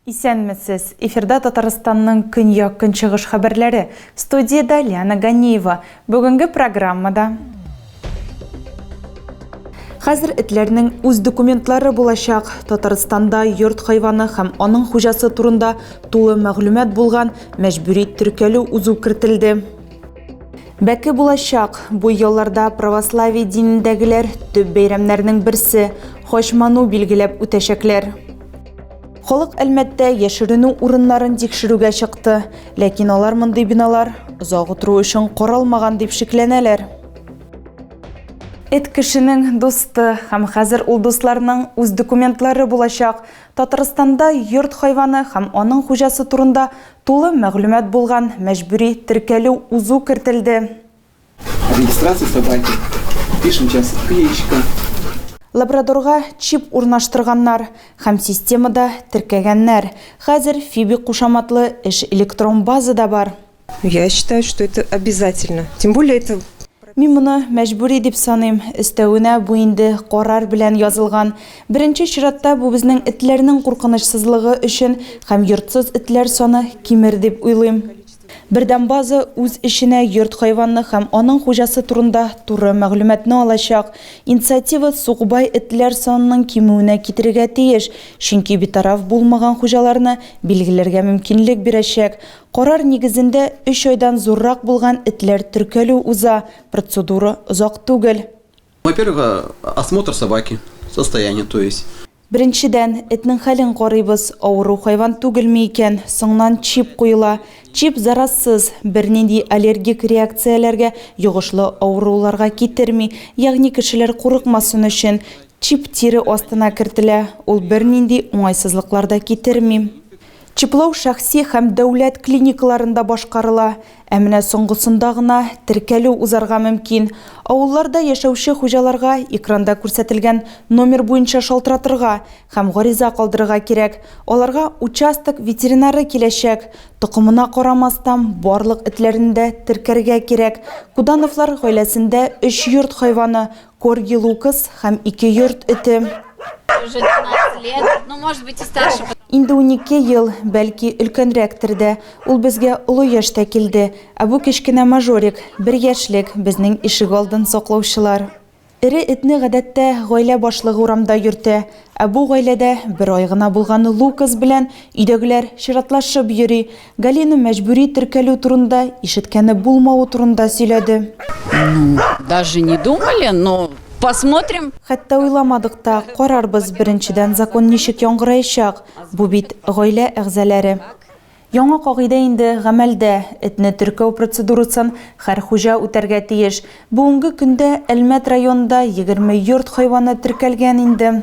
Исәнмесез! Эфирда Татарстанның көньяк-көнчыгыш хәбәрләре. Студиядә Лиана Ганеева. Бүгенге программада Хәзер этләрнең үз документлары булачак. Татарстанда йорт хайваны һәм аның хуҗасы турында тулы мәгълүмат булган мәҗбүри теркәлү узу кертелде. Бәке булачак, бу елларда православие динендәгеләр төп бәйрәмнәрнең берсе, Хачману билгеләп үтәчәкләр. Халык Әлмәттә яшеренү урыннарын тикшерүгә чыкты, ләкин алар мондый биналар озак утыру өчен каралмаган дип шикләнәләр. Эт кешенең дусты, һәм хәзер ул дусларның үз документлары булачак. Татарстанда йорт хайваны һәм аның хуҗасы турында тулы мәгълүмат булган мәҗбүри теркәлү узу кертелде. Регистрация собаки. Пишем час кличка. Лабрадорга чип урнаштырганнар һәм системада теркәгәннәр. Хәзер Фиби кушаматлы эш электрон базада бар. Я считаю, что это обязательно. Тем более это Мин моны мәҗбүри дип саныйм. Өстәвенә, бу инде карар белән язылган. Беренче чиратта, бу безнең этләрнең куркынычсызлыгы өчен һәм йортсыз этләр саны кимер дип уйлыйм. Бердәм база үз эченә йорт хайваны һәм аның хуҗасы турында туры мәгълүматны алачак. Инициатива сукбай этләр санының кимүенә китерергә тиеш, чөнки битараф булмаган хуҗаларны билгеләргә мөмкинлек бирәчәк. Карар нигезендә өч айдан зуррак булган этләр теркәлү уза, процедура озак түгел. Во-первых, осмотр собаки, состояние, то есть. Беренчедән, этнең хәлен карыйбыз, авыру хайван түгелме икән, соңнан чип куела. Чип заразсыз, бернинди аллергик реакцияләргә, йогышлы авыруларга китерми, ягъни кешеләр курыкмасын өчен, чип тире астына кертелә, ул бернинди уңайсызлыклар да китерми. Чиплау шәхси һәм дәүләт клиникаларында башкарыла, Ә менә соңгысында гына теркәлү узарга мөмкин. Авылларда яшәүче хуҗаларга экранда күрсәтелгән номер буенча шалтыратырга һәм гариза калдырырга кирәк. Аларга участок ветеринары киләчәк. Токымына карамастан, барлык этләрне дә теркәргә кирәк. Кудановлар гаиләсендә өч йорт хайваны, Корги Лукас һәм ике йорт эте. Инде унике ел, бәлки, өлкәнрәктер дә. Ул безгә олы яшьтә килде. Ә бу кечкенә мажорик, бер яшьлек, безнең ишегалдын саклаучылар. Эре этне, гадәттә, гаилә башлыгы урамда йөртә. Ә бу гаиләдә бер ай гына булган Лукас белән өйдәгеләр чиратлашып йөри. Галина мәҗбүри теркәлү турында, ишеткәне булмавы турында сөйләде. Ну, даже не думали, но посмотрим. Хәтта уйламадык та, карарбыз, беренчедән, закон ничек яңгыраячак, бу бит гаилә әгъзаләре. Яңа кагыйдә инде гамәлдә, этне теркәү процедурасын хәр хуҗа үтәргә тиеш. Бүгенге көндә Әлмәт районында егерме йорт хайваны теркәлгән инде.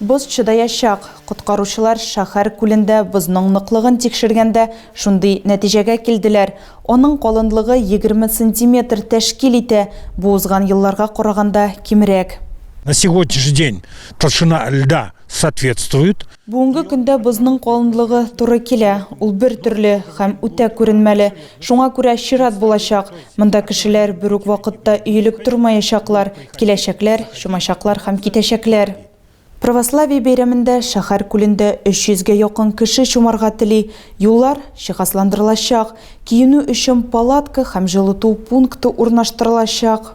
Боз чыдаячак. Коткаручылар шәһәр күлендә бозның ныклыгын тикшергәндә шундый нәтиҗәгә килделәр. Аның калынлыгы егерме сантиметр тәшкил итә, бу узган елларга караганда кимрәк. На сегодняшний день толщина льда соответствует. Бүгенге көндә бозның калынлыгы туры килә, ул бертөрле һәм үтә күренмәле. Шуңа күрә чират булачак. Монда кешеләр бер үк вакытта өелеп тормаячаклар, киләчәкләр, чумачаклар һәм китәчәкләр. Православие бәйрәмендә шәһәр күлендә 300 гә якын кеше чумарга тели, юллар җиһазландырылачак, киенү өчен палатка һәм җылыту пункты урнаштырылачак.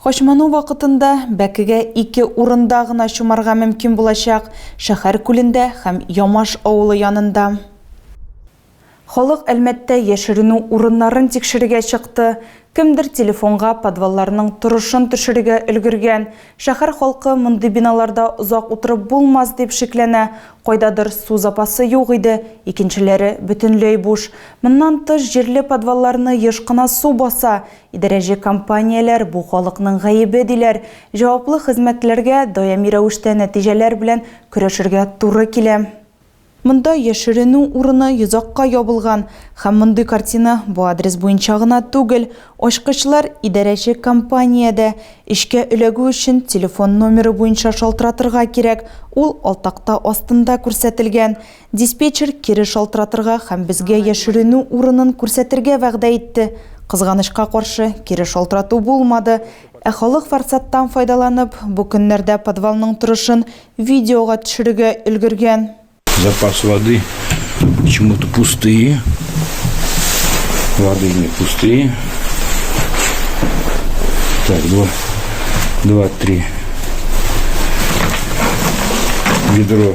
Качману вакытында бәкегә ике урында гына чумарга мөмкин булачак, шәһәр күлендә һәм Ямаш авылы янында. Халык Әлмәттә яшеренү урыннарын тикшерергә чыкты, кемдер телефонга подвалларның торышын төшерергә өлгергән. Шәһәр халкы мондый биналарда озак утырып булмас дип шикләнә, кайдадыр су запасы юк иде, икенчеләре бөтенләй буш. Моннан тыш, җирле подвалларны еш кына су баса, Идарәче компанияләр, бу халыкның гаебе, диләр. Җаваплы хезмәтләргә даими рәвештә нәтиҗәләр белән көрәшергә туры килә. Монда яшеренү урыны йозакка ябылган. Һәм мондый картина бу адрес буенча гына түгел. Ачкычлар идарәче компаниядә. Эшкә эләгү өчен телефон номеры буенча шалтыратырга кирәк, ул алтакта астында күрсәтелгән. Диспетчер кире шалтыратырга һәм безгә яшеренү урынын күрсәтергә вәгъдә итте. Кызганычка каршы, кире шалтырату булмады. Ә халык форсаттан файдаланып, бу көннәрдә подвалның торышын видеога төшерергә өлгергән. Запас воды почему-то пустые. Воды не пустые. Так, два, два, три ведро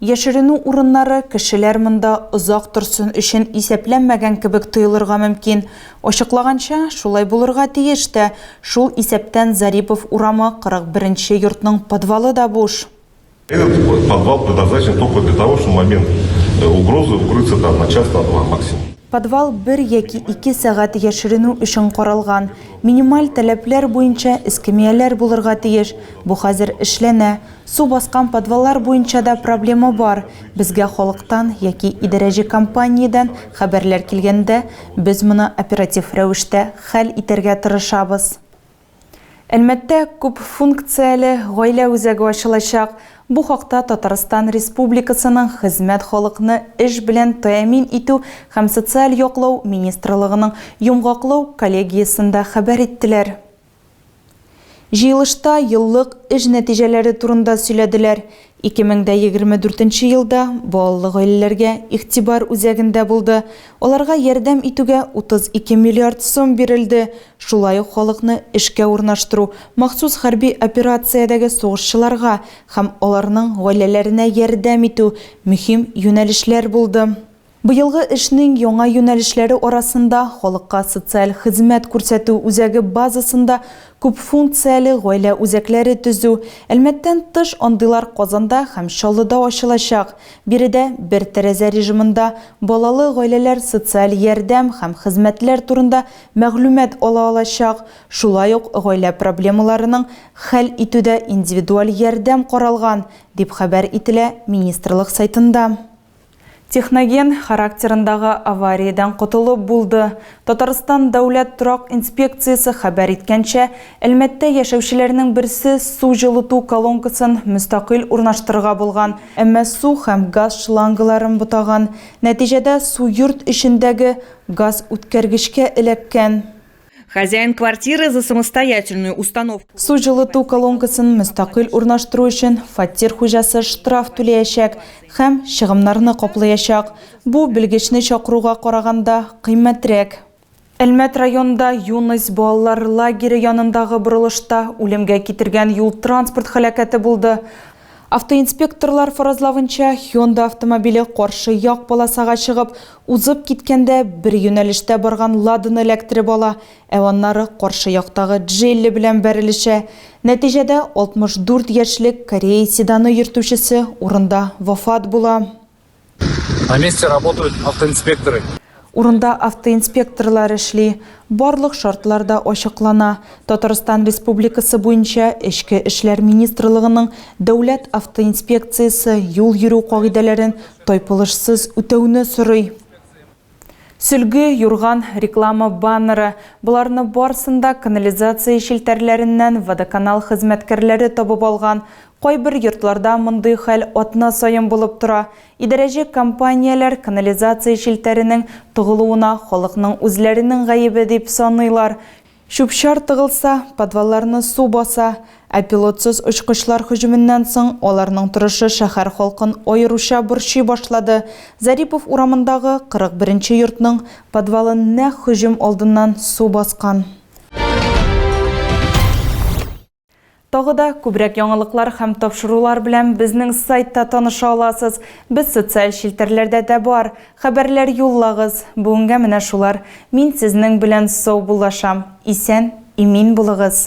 Яшеренү урыннары, кешеләр монда озак торсын өчен исәпләнмәгән кебек тоелырга мөмкин. Ачыклаганча, шулай булырга тиеш тә, шул исәптән Зарипов урамы 41 нче йортның подвалы да буш. Этот подвал предназначен только для того, чтобы в момент угрозы укрыться там на час, на два максимум. Подвал бер яки ике сәгать яшеренү өчен каралган. Минималь таләпләр буенча эскәмияләр булырга тиеш. Бу хәзер эшләнә. Су баскан подваллар буенча да проблема бар. Безгә халыктан яки идарәче компаниядән хәбәрләр килгәндә, без моны оператив рәвештә хәл итәргә тырышабыз. Әлмәттә күп функцияле гаилә үзәге ачылачак. Бу хакта Татарстан Республикасының Хезмәт халыкны эш белән тәэмин итү һәм социаль яклау министрлыгының йомгаклау коллегиясендә хәбәр иттеләр. Җыелышта еллык эш нәтиҗәләре турында сөйләделәр. 2024 елда балалы гаиләләргә игътибар үзәгендә булды. Аларга ярдәм итүгә 32 миллиард сум бирелде. Шулай ук халыкны эшкә урнаштыру, махсус хәрби операциядәге сугышчыларга һәм аларның гаиләләренә ярдәм итү мөһим юнәлешләр булды. Быелгы эшнең яңа юнәлешләре арасында халыкка социаль хезмәт күрсәтү үзәге базасында күпфункцияле гаилә үзәкләре төзү, Әлмәттән тыш андыйлар Казанда һәм Чаллыда ачылачак. Биредә бер тәрәзә режимында балалы гаиләләр социаль ярдәм һәм хезмәтләр турында мәгълүмат ала алачак, шулай ук гаилә проблемаларының хәл итүдә индивидуаль ярдәм каралган, дип хәбәр ителә министрлык сайтында. Техноген характерындагы авариядән котылып булды. Татарстан дәүләт торак инспекциясе хәбәр иткәнчә, Әлмәттә яшәүчеләрнең берсе су җылыту колонкасын мөстәкыйль урнаштырырга булган, әмма су һәм газ шлангаларын бутаган, нәтиҗәдә су йорт эчендәге газ үткәргечкә эләккән. Хозяин квартиры за самостоятельную установку. Су җылыту колонкасын мөстәкыйль урнаштыру өчен фатир хуҗасы штраф түләячәк һәм чыгымнарны каплаячак. Бу белгечне чакыруга караганда кыйммәтрәк. Әлмәт районында Юность балалар лагере янындагы борылышта үлемгә китергән юл-транспорт һәлакәте булды. Автоинспекторлар фаразлавынча, Hyundai автомобиле каршы як полосага чыгып, узып киткәндә, бер юнәлештә барган Ладаны эләктереп ала, ә аннары каршы яктагы Джелли белән бәрелешә. Нәтиҗәдә, 64 яшьлек кореец седаны йөртүчесе урында вафат була. На месте работают автоинспекторы. Урында автоинспекторлар эшли. Барлык шартлар да ачыклана. Татарстан Республикасы буенча Эчке эшләр министрлыгының Дәүләт автоинспекциясе юл йөрү кагыйдәләрен тайпылышсыз үтәүне сорый. Сөлге, юрган, реклама баннеры, боларны барсын да канализация челтәрләреннән водоканал хезмәткәрләре табып алган. Кайбер йортларда мондый хәл атна саен булып тора. Идарәче компанияләр канализация челтәренең тыгылуына халыкның үзләренең гаебе дип саныйлар. Чүп-чар тыгылса, подвалларны су баса, ә пилотсыз очкычлар һөҗүменнән соң аларның торышы шәһәр халкын аеруча борчый башлады. Зарипов урамындагы 41 нче йортның подвалын нәкъ һөҗүм алдыннан су баскан. Тагы да күбрәк яңалыклар һәм тапшырулар белән безнең сайтта таныша аласыз. Без социаль челтәрләрдә дә бар. Хәбәрләр юллагыз. Бүгенгә менә шулар. Мин сезнең белән саубуллашам. Исән, имин булыгыз!